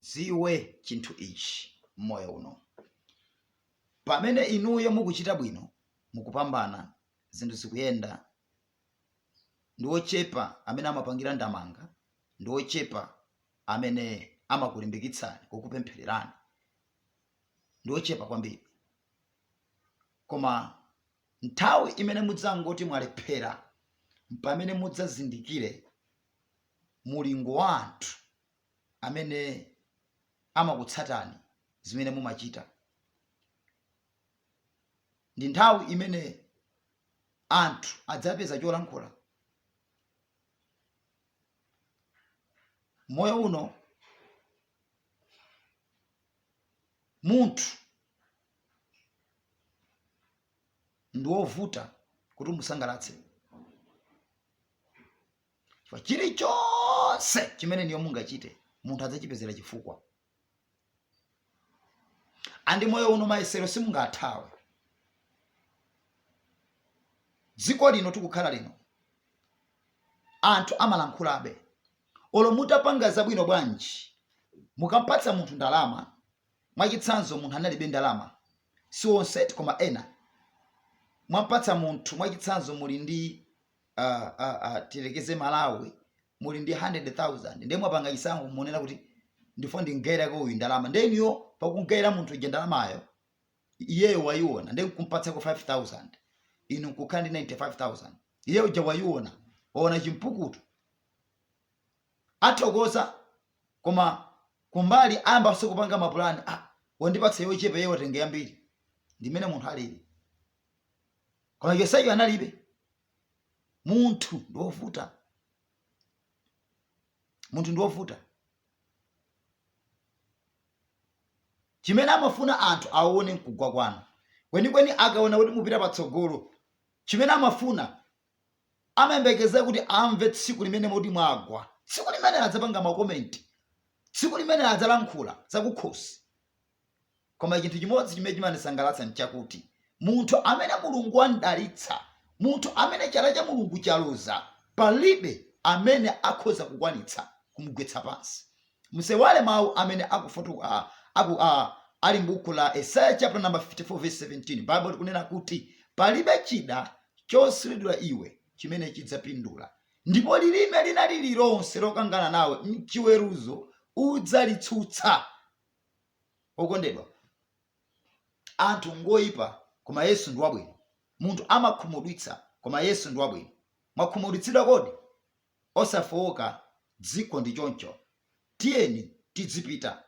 Mudziwe chinthu ichi mmoyo uno, pamene inuyo mukuchita bwino, mukupambana, zinthu zikuyenda, ndi ochepa amene amapangira ndamanga, ndi ochepa amene amakulimbikitsani, kukupemphererani, ndi ochepa kwambiri. Koma nthawi imene mudzangoti mwalephera, mpamene mudzazindikire mulingo wa anthu amene amakutsatani zimene mumachita. Ndi nthawi imene anthu adzapeza cholankhula. Moyo uno munthu ndi wovuta kuti umusangalatse. chilichonse chimene inuyo mungachite munthu adzachipezera chifukwa and moyo uno mayesero simungathawe dziko lino tikukhala lino anthu amalankhulabe olo mutapanga zabwino bwanji mukampatsa munthu ndalama mwachitsanzo munthu analibe ndalama si onse koma ena mwampatsa munthu mwachitsanzo muli ndi uh, uh, uh, tiyerekeze malawi muli ndi 100000 ndiye mwapanga chisankho mukunena kuti ndifuna ndimgaireko uyu ndalama nde inuyo pakumgaira munthu uja ndalamayo iyeyo wayiona ndiye kumpatsako 5000 inu nkukhala ndi 95000 iye uja wayiona waona chimpukutu athokoza koma kumbali ayambaso kupanga mapulani ah, wandipatsa yochepa iye watenga yambiri ndimene munthu alili koma chonsecho analibe munthu ndi wovuta munthu ndi wovuta chimene amafuna anthu aone nkugwa kwanu kwenikweni akaona kuti mupita patsogolo chimene amafuna amayembekeza kuti amve tsiku limene moti mwagwa tsiku limene adzapanga makomenti tsiku limene adzalankhula zakukhosi koma chinthu chimodzi chimene chimandisangalatsa nchakuti munthu amene mulungu wamdalitsa munthu amene chala cha mulungu chaloza palibe amene akhoza kukwanitsa kumgwetsa pansi musaiwale mawu amene akufotu a, aku a, ali mbuku la esaya chapter number 54 verse 17 bible likunena kuti palibe chida chosuliridwa iwe chimene chidzapindula ndipo lilime lina lililonse lokangana nawe mchiweruzo udzalitsutsa Okondedwa, anthu ngoipa koma Yesu ndi wabwino. Munthu amakhumudwitsa koma Yesu ndi wabwino. Mwakhumudwitsidwa kodi? Osafooka, dziko ndi choncho. Tiyeni tidzipita.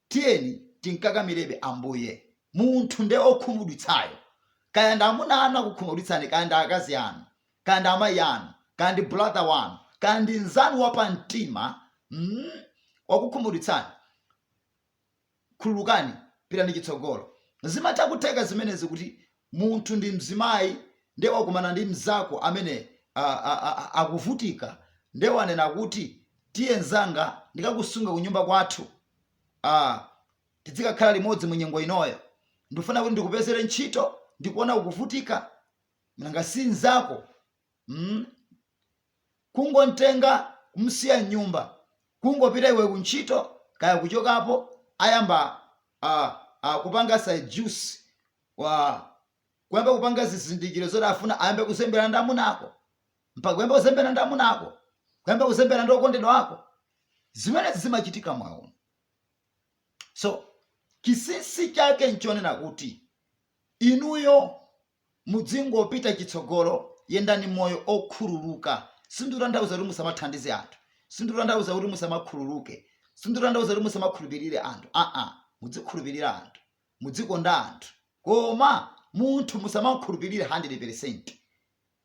Tiyeni timkakamirebe Ambuye. Munthu nde okhumudwitsayo. Kaya ndi amuna anu akukhumudwitsani kaya ndi akazi anu. kaya ndi amayi anu, kaya ndi brother wanu, kaya ndi nzanu wa pa mtima mm, wakukhumudwitsani, khululukani, pitani chitsogolo. Zimatha kutheka zimenezi kuti munthu ndi mzimayi ndiye wakumana ndi mzako amene akuvutika ndiye wanena kuti tiye nzanga ndikakusunge kunyumba kwathu ah, tidzikakhala limodzi mu nyengo inoyo ndifuna kuti ndikupezere ntchito ndikuona ukuvutika nanga si mzako mm? kungontenga kumsiya mnyumba kungopita iwe kuntchito kaya kuchokapo ayamba uh, uh, kupanga seduce kuyamba kupanga zizindikiro zoti afuna ayambe kuzembera ndi amuna ako mpaka kuyamba kuzembera ndi amuna ako kuyamba kuzembera ndi okondedwa ako zimenezi zimachitika mwaona so chinsinsi chake nchonena kuti inuyo Mudzingopita chitsogolo, yendani moyo okhululuka. Sindikutanthauza kuti musamathandize anthu. Sindikutanthauza kuti musamakhululuke. Sindikutanthauza kuti musamakhulupirire anthu. Aa, mudzikhulupirira anthu. Mudzikonda anthu. Koma munthu musamamkhulupirire 100 peresenti.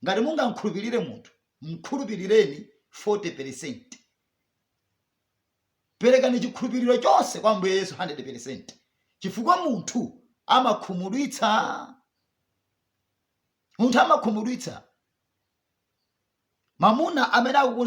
Ngati mungamkhulupirire munthu, mkhulupirireni 40 peresenti. Perekani chikhulupiriro chonse kwa Ambuye Yesu 100%, chifukwa munthu amakhumudwitsa. Munthu amakhumudwitsa. Mamuna amene akukuuza